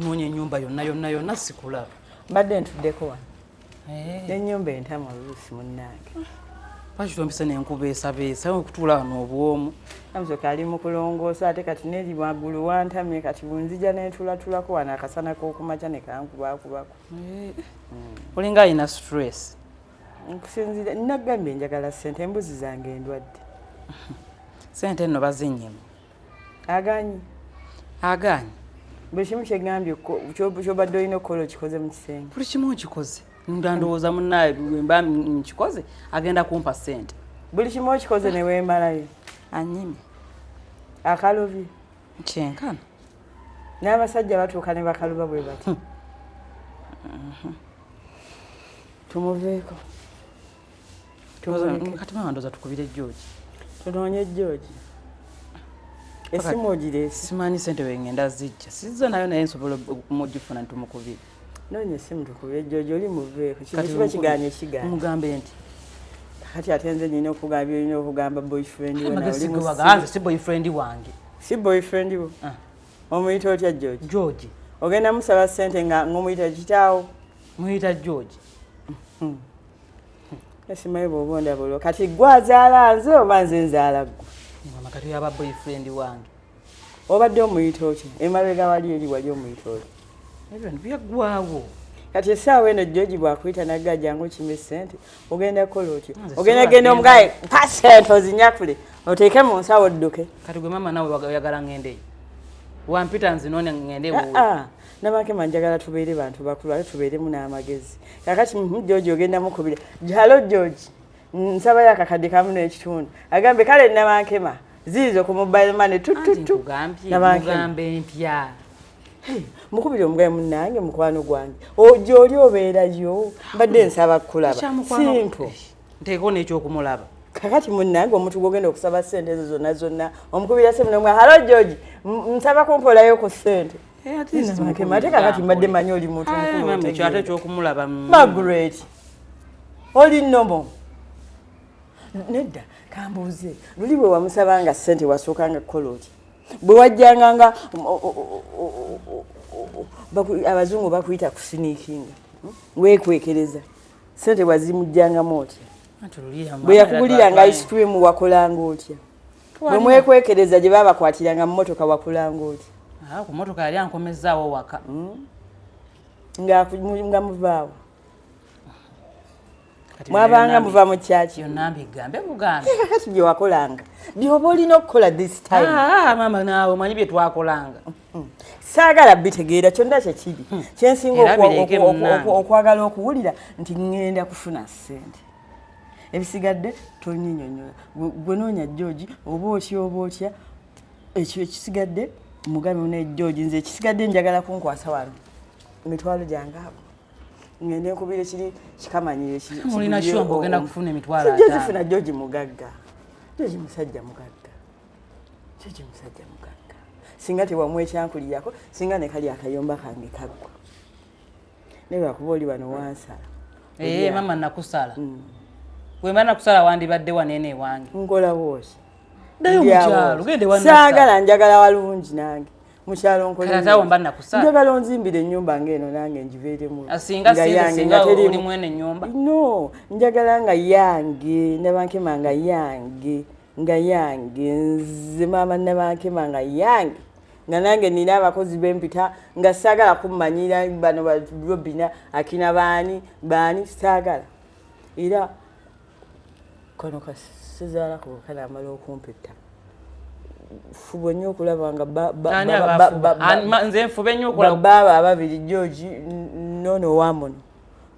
nkunonya enyumba yonna yonna yonna sikulaba mbadde ntuddeko wano Eh. Enyumba entama Ruth munnange. Lwaki tompise ne nkubeesabeesa okutuula wano obwomu? Namusoke ali mu kulongoosa ate kati neri waggulu wantamye kati bunzija ne ntulatulako wano akasana k'okumakya ne kankubakubako. Eh. Hmm. Olinga alina stress. Nkusinzira nagambye njagala ssente embuzi zange endwadde. Ssente nno bazinnyemu. agaanyi agaanyi buli kimu kyegambye kyobadde olina okukola okikoze mu kisenge buli kimu okikoze nga ndowooza munaaye wemba nkikoze agenda kumpa sente buli kimu okikoze newemalayo anyini akalubi kyenkana n'abasajja batuuka ne bakaluba bwe bati hmm. mhm. tumuveeko kati mama ndoza tukubire george tunoonye george esimu ogirese simanyi sente wengenda zijja sizza nayo naye nsobola okumugifuna ntumukubire noonya esimu tukubire george oli muveeko kino kiba kigaana ekigaana mugambe nti kati ate nze nyina okugamba byolina okugamba boyfriend wenaolimusiganze si boyfriend wange si boyfriend wo ah. omuyita otya george george ogenda musaba sente nga ngomuyita kitaawo muyita george esimayo bwoba ndaba olwo kati gwe azaala nze oba nze nzaala gwe mama kati yaba boyfriend wange obadde omuyita otya emabega wali eri wali omuyita otya ebyo byaggwawo kati esaawa eno joji bwakuyita nagga jangu kime sente ogenda kukola otya ogenda genda omugaye pa sente ozinyakule oteeke mu nsawo odduke kati gwe mama nawe oyagala ngendeyo wampita nzinone ngende ah, ah. namakema njagala tubeere bantu bakulu ate tubeeremu n'amagezi kakati hmm, georgi ogenda mukubira halo georgi nsabayo akakadde kamu n'ekitundu agambe kale namakema ziizo ku mobile money tututu namakema empya mukubira omugaye munange mukwano gwange gyoli obeerayo mbadde nsaba kukulaba simpo nteekeo n'ekyokumulaba kakati munange omuntu gwogenda okusaba sente ezo zonna zonna omukubira semu nomwa halo georgi nsaba kumpolayo ku sente Eh, ate kakati mbadde manyi oli muntu mukuluate ekyokumulaba magret oli nomo nedda kambuuze luli bwe wamusaba nga sente wasooka nga kukola otya bwe wajjanga nga abazungu bakuyita kusiniikinga hmm? wekwekereza sente wazimujjangamu otya bwe yakuguliranga ice cream wakolanga otya bwe mwekwekereza gye babakwatiranga mu motoka wakulanga oti ah, ku motoka yali ankomezaawo waka hmm? nga muvaawo mwabanga muva mu kyaki kati bye wakolanga byoba olina okukola this time ah, ah, mama naawe omanyi bye twakolanga hmm. saagala bitegeera kyonna kyekiri hmm. kyensinga okwagala okuwulira nti ŋŋenda kufuna ssente ebisigadde tonyinyonyola gwe noonya george oba otya oba otya ekyo ekisigadde mugabe ne george nze ekisigadde njagala kunkwasa wano emitwalo gyange abo ngende nkubire kiri kikamanyire mulina kyomba ogenda kufuna emitwalo jozifuna george mugagga george musajja mugagga george musajja mugagga singa tewamwekyankulirako singa nekali akayomba kange kaggwa naye lwakuba oli wano wansala ee eh, mama nakusala mm. wemba nakusala wandibadde waneena ewange nkolawoki saagala njagala walungi nange mukyalo nkoleaombanjagala onzimbira enyumba ngaeno nange njiveeremuno njagala nga yange nabankema nga yange nga yange nze maama nabankema nga yange nga nange nina abakozi bempita nga sagala kumanyira bano barobina akina baani baani sagala era kano kasizala kukana amala okumpita fubwe nyo okulaba nga nze nfube nyo okulaba baba ababiri george nono wamono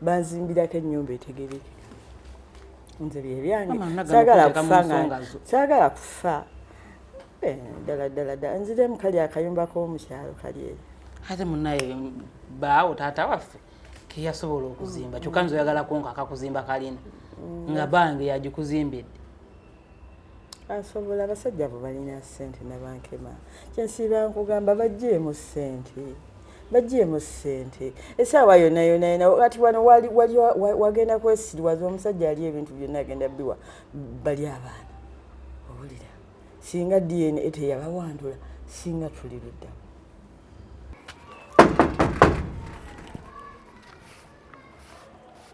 banzimbirako ennyumba etegereke nze byebyange sagala kufa nga sagala kufa eh, ddala ddala ddala nziremu kali akayumba k'omukyalo kali eyo ate munaye baawo taata waffe keyasobola okuzimba kyokka nze oyagala konka akakuzimba kalina mm. nga bange yagikuzimbidde asobola abasajja abo balina sente nabankema kyensiiba nkugamba bajjeemu sente bagyemu sente esaawa yona yona yona kati wano wagenda kwesiriwaza omusajja ali ebintu byonna agenda biwa bali abaana owulira singa dna teyabawandula singa tuli luddamu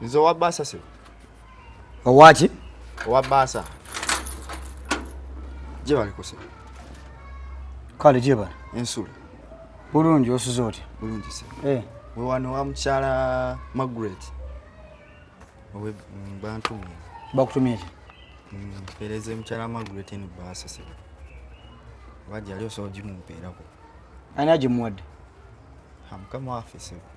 nze owa baasa se owaki owa baasa gye balikose kale gye bali ensula bulungi osuze otya bulungi se eh. we wano wa mukyala magret owe mm, bantu mwe bakutumye ki mm, mpeereze mukyala magret eno baasa se oba gyali osobola gimumpeerako ani agimuwadde mukama waffe sebo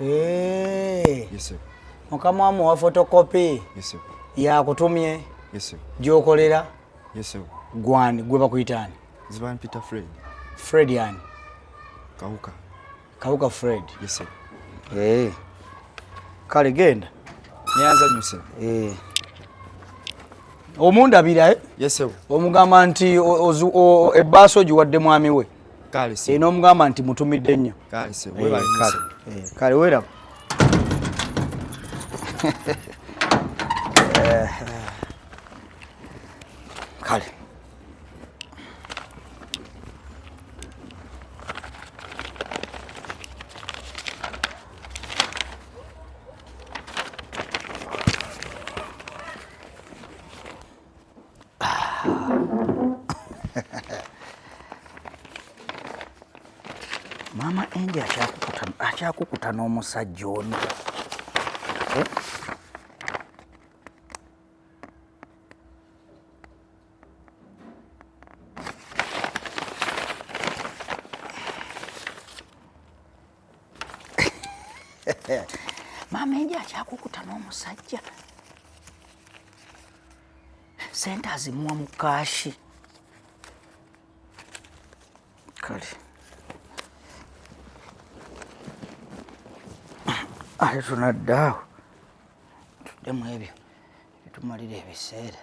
Eh. mukama wa muwa fotokopi yakutumye gyokolera gwani gwe bakuyitaani fred yani kawuka kawuka fred eh. kale genda nyanzanyuse eh. omundabira omugamba nti ebbaasa ogiwadde mwami we e, n'omugamba nti mutumidde nnyo kale weraba kale Mama Andy akyakukuta akyakukuta n'omusajja ono. Eh? maama enje akyakukuta n'omusajja sente azimuwa mu kaashi kale ate tunaddaawo tuddemu ebyo bitumalira ebiseera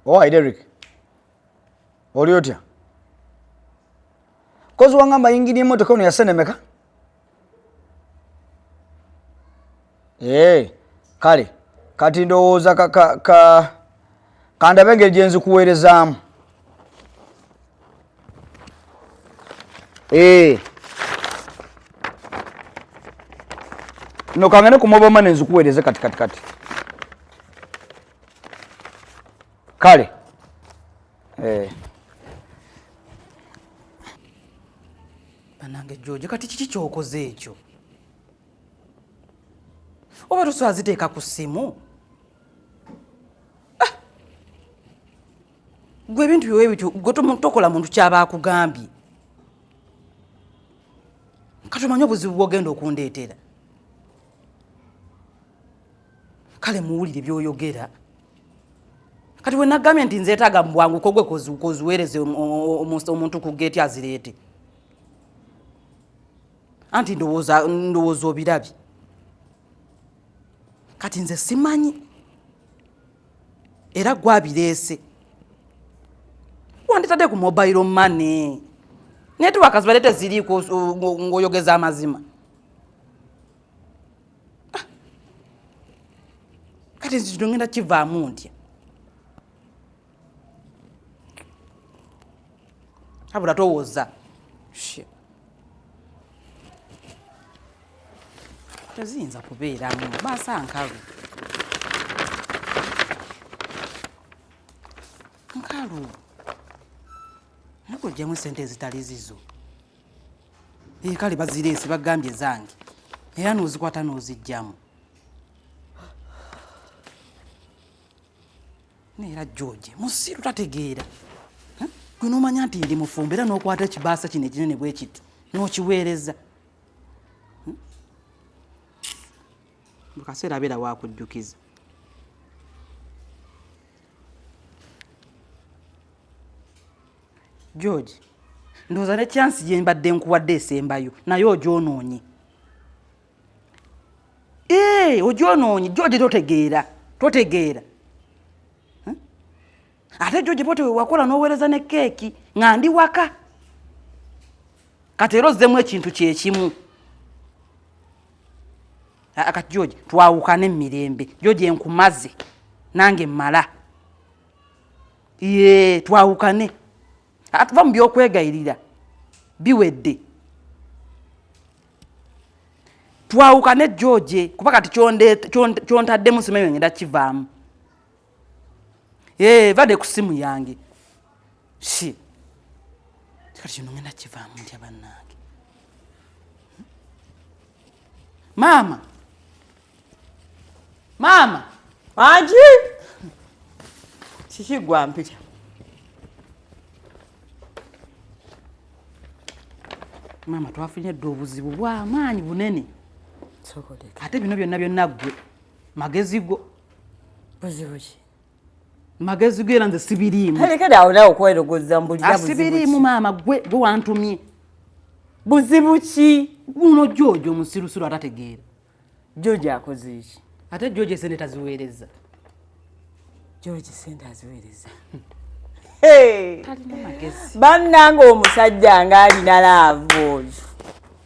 Owai Derek, oli otya? Kozi wangamba yingini emotoka ono yasenemeka ee eh, kale kati ndowooza kandabe engeri gye nzikuweerezaamu ee eh. no kangane ku mobile money nzikuweereze kati kati kati kale Eh. Banange George kati kiki kyokoze ekyo? Oba tuswaziteeka ku ssimu? gwe ebintu byowe bityo gwe tokola muntu kyaba akugambye kati omanye obuzibu bwogenda okundeetera kale muwulire byoyogera kati wenagambye nti nzeetaaga mubwanguko gwe koziweereze omuntu ku geeti azireete anti ndowooza obirabye kati nze simanyi era gwabireese wanditadde ku mobile money network zibadde teziriiko ng'oyogeza amazima Ah. kati nzi kino ngenda kivaamu ntya abula towoza teziyinza kubeeramu maasa nkalu nkalu nakuljemu esente ezitali zizo Eh, kale bazireese bagambye zange era n'ozikwata n'ozijjamu neera george musiru tategeera gwe n'omanya nti ndi mufumba era n'okwata ekibaasa kino ekinene bwe kiti n'okiweereza mu kaseera abeera wakujjukiza george ndowooza ne kyansi gye mbadde nkuwadde esembayo naye ogyonoonye ee eh, ogyonoonye george totegeera totegeera hm? ate george bote wewakola n'oweereza ne keeki nga ndi waka kati era ozzemu ekintu kyekimu akati george twawukane emirembe george enkumaze nange mala ye twawukane atuva mu byokwegayirira biwedde twawukane george kuba kati kyontaddemu simanyi wengenda kivaamu Hey, eh, vade ku simu yange shi kati kino ngenda kivaamu ntya bannange maama maama angi kiki gwa mpita maama twafunye dde obuzibu bwamaanyi bunene ate bino byonna byonna ggwe magezi go buzibu ki magezi go era nze sibiriimu alekede awo nawe okwerogoza mbulirasibiriimu ah, maama gwe gwe wantumye buzibu ki guno jojo musirusiru atategeera jojo akoze eki ate jojo esente taziweereza jojo sente aziweereza bannanga omusajja ng'alina laavu oyo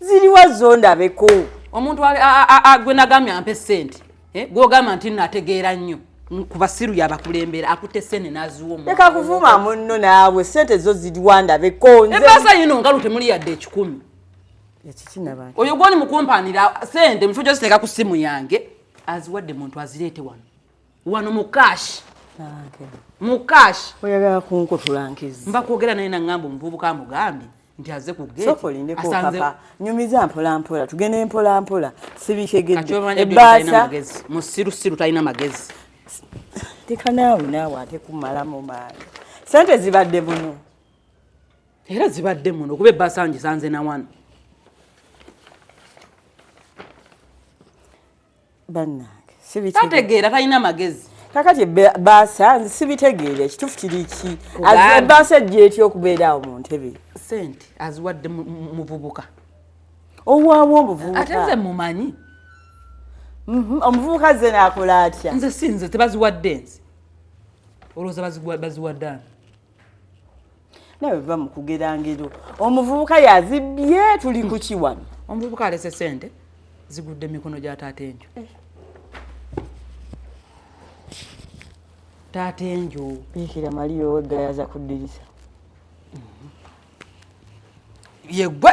ziriwa zo ndabeko omuntu gwe nagambye ampe sente eh, gwogamba nti nategeera nnyo kubasiru yabakulembera akute sene naziwoleka kuvuma munno naawe sente zo ziriwa ndabeko ebaasa yino ngalu temuli yadde ekikumi oyo gwoni mukumpanira sente mufo gyoziteeka ku simu yange aziwadde muntu azireete wano wano mu cash mu cash oyagala kunkutula nkizi mba kwogera naye nangamba omuvubuka mugambye nti aze ku geetiasanzepapa nyumiza mpolampola tugende mpolampola sibikegedebaasa musirusiru talina magezi teka naawe naawe ate kumalamu maani sente zibadde muno era zibadde muno kuba ebbasa ngisanze na wano bannange tategeera talina magezi kakati baasa nze sibitegeera ekitufu kiri ki baasa ejja etya okubeera awo mu ntebe sente aziwadde muvubuka owaawo omuvubuka ate nze mumanyi mhm, omuvubuka ze naakola atya nze si nze tebaziwadde nze olowooza baziwadde ani nawe va mu kugera ngero omuvubuka yazibbye tuli ku kiwano omuvubuka alese sente zigudde mikono gya taata enju eh. taata enju yikira maliyo oweggayaza kuddirisa mhm. yegwe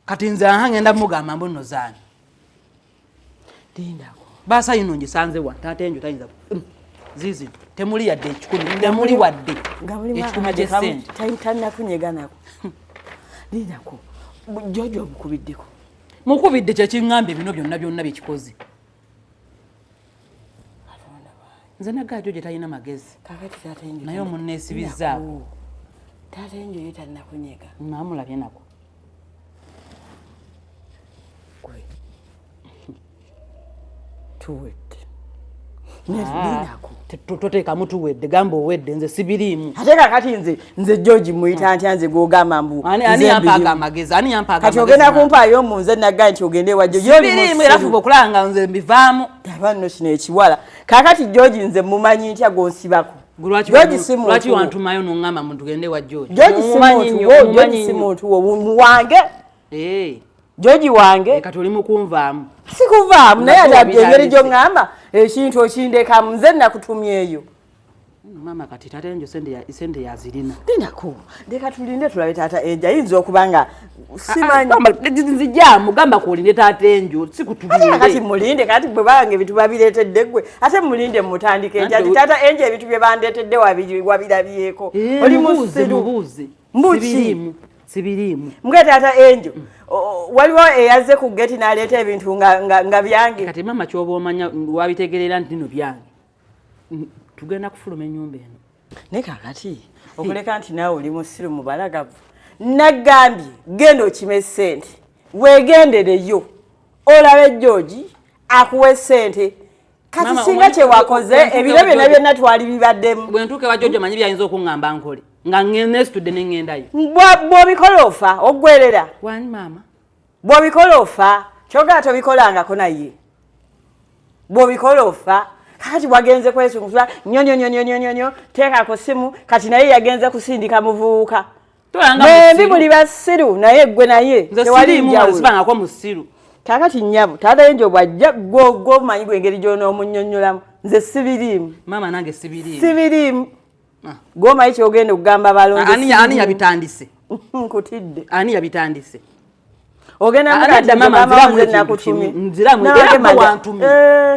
kati nze aha ngenda mugamba mbuno zaani Lindako. Basa yuno njisanze wa taata enjo tayinza. Mm. Zizi temuli yadde ekikumi temuli wadde. Ekikumi gye sente. Tayitana kunyega nako. Lindako. Jojo omukubiddeko. Mukubidde kye king'ambe bino byonna byonna bye kikoze. nze nagajo gye talina magezi naye omunneesibizzaako taata enjo ye talinakunyega namulabye nako gwe tuwedde ah, toteekamu tuwedde gamba owedde nze sibiriimu ate kakati nze nze george muyita ntya nze gwogamba mbu kati ogenda kumpaayo mu nze nagga nti ogende wajoyoeraokulaba nga nze mbivaamu abanno kino ekiwala kakati george nze mumanyi ntya gwonsibako george simuntu wange eh. george wange eh, kati oli mukunvaamu sikuvaamu naye ati abyengeri gyoŋŋamba ekintu okindekamu nze nakutumyeyo maama kati taata enjo sente yazirina dinako leka tulinde tulabe taata enjo ayinza okuba nga simanzinzijamu gamba kuolinde taata enjo sikutulindekati mulinde kati bwe banga ebintu babiretedde gwe ate mulinde mutandika enjo ati taata enjo ebintu bye bandetedde wabirabyeko eh, oli musiru mbuki sibiriimu mbwe taata enjo mm. waliwo eyazze ku geti naleeta ebintu nga byange kati maama kyoba omanya wabitegerera nti bino byange Mm, tugenda kufuluma enyumba eno naye kakati okuleka nti naawe oli musiru mubalagavu nagambye genda okime sente wegendereyo olabe joji akuwe sente kati singa kyewakoze ebiro byona byona twali bibaddemu bwentuuka ewa jojo manyi byayinza okuŋamba nkole nga nesitudde neŋendayo bwobikola ofa oggwerera wani maama bwobikola ofa kyogera tobikolangako naye bwobikola ofa kakati wagenze kwesungusa nyonyonyonyonyonyo teeka ku simu kati naye yagenze kusindika muvubuka bembi buli basiru naye gwe naye tewalinjawulobangako musiru kakati nyabo taata enjo bwajja gwomanyi gwengeri gyonomunyonyolamu nze sibiriimu mama nange sibiriimu sibiriimu ah. gwomayi kyogenda okugamba balonde ani yabitandise nkutidde ani yabitandise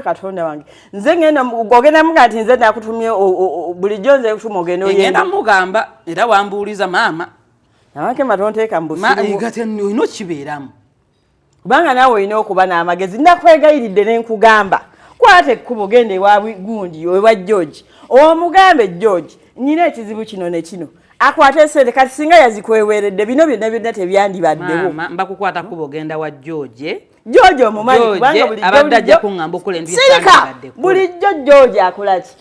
katonda wange nze ngenda ogenda muga nti nze nakutumye bulijjo nze kutuma ogenda oyenda mugamba era wambuuliza maama namakema tonteeka mbusiolina okibeeramu kubanga naawe olina okuba n'amagezi nakwegayiridde ne nkugamba kwata ekkubo genda ewa gundi ewa george omugambe george nina ekizibu kino ne kino akwate sente kati singa yazikweweredde bino byonna byonna tebyandibaddewo mbakukwata kubo genda wa george george omumanyi kubanga bulijjo bulijjo akola ki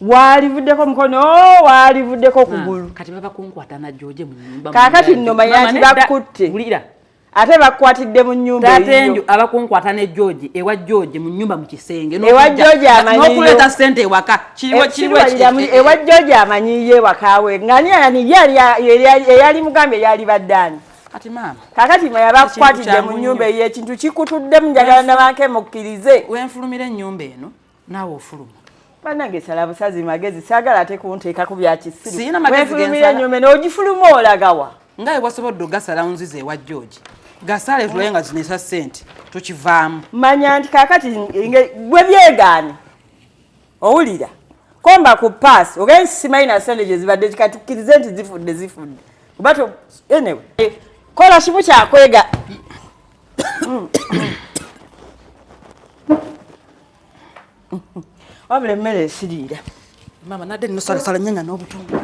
waalivuddeko mukono oh, waalivuddeko kugulu ah, kati baba kunkwata na joje mu nyumba kakati nno mayanti bakutte wulira ate bakwatidde mu nyumba tatenju abakunkwata ne george ewa george mu nyumba mu kisenge ewa george amanyiyo nokuleeta sente ewaka kiriwo eh, kiriwo ewa george amanyiyo ewakawe ngani yani eyali mugambye eyali baddaani kati maama kakati mwe yabakwatidde mu nyumba eyo ekintu kikutuddemu njagala nabanke mukkirize wenfulumira ennyumba eno naawe ofuluma banange sala busazi magezi sagala ate kunteeka ku byakisirufulumira enyume n'ogifuluma olagawa nga ewasobodde ogasala nzize ewa george gasale tulaye nga zinesa sente tukivaamu manya nti kakati gwe byegaani owulira komba ku pass ogenyi simanyi na sente gyezibadde kikatukkirize nti zifudde zifudde kuba anyway kola kimu kyakwega wabula emmere esiriira maama nadde nno salasala nyanya n'obutundu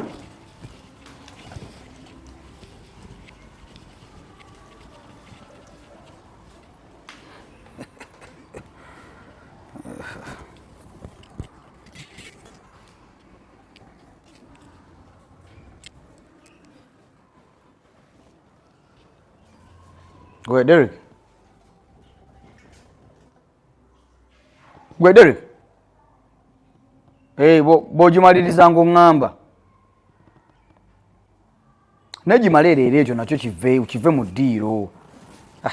Gwe Derek. Gwe Derek. Hey, eh, bwogimaliriza bo ng'oŋŋamba naye gimala ereero ekyo nakyo kive kive mu ddiiro ah,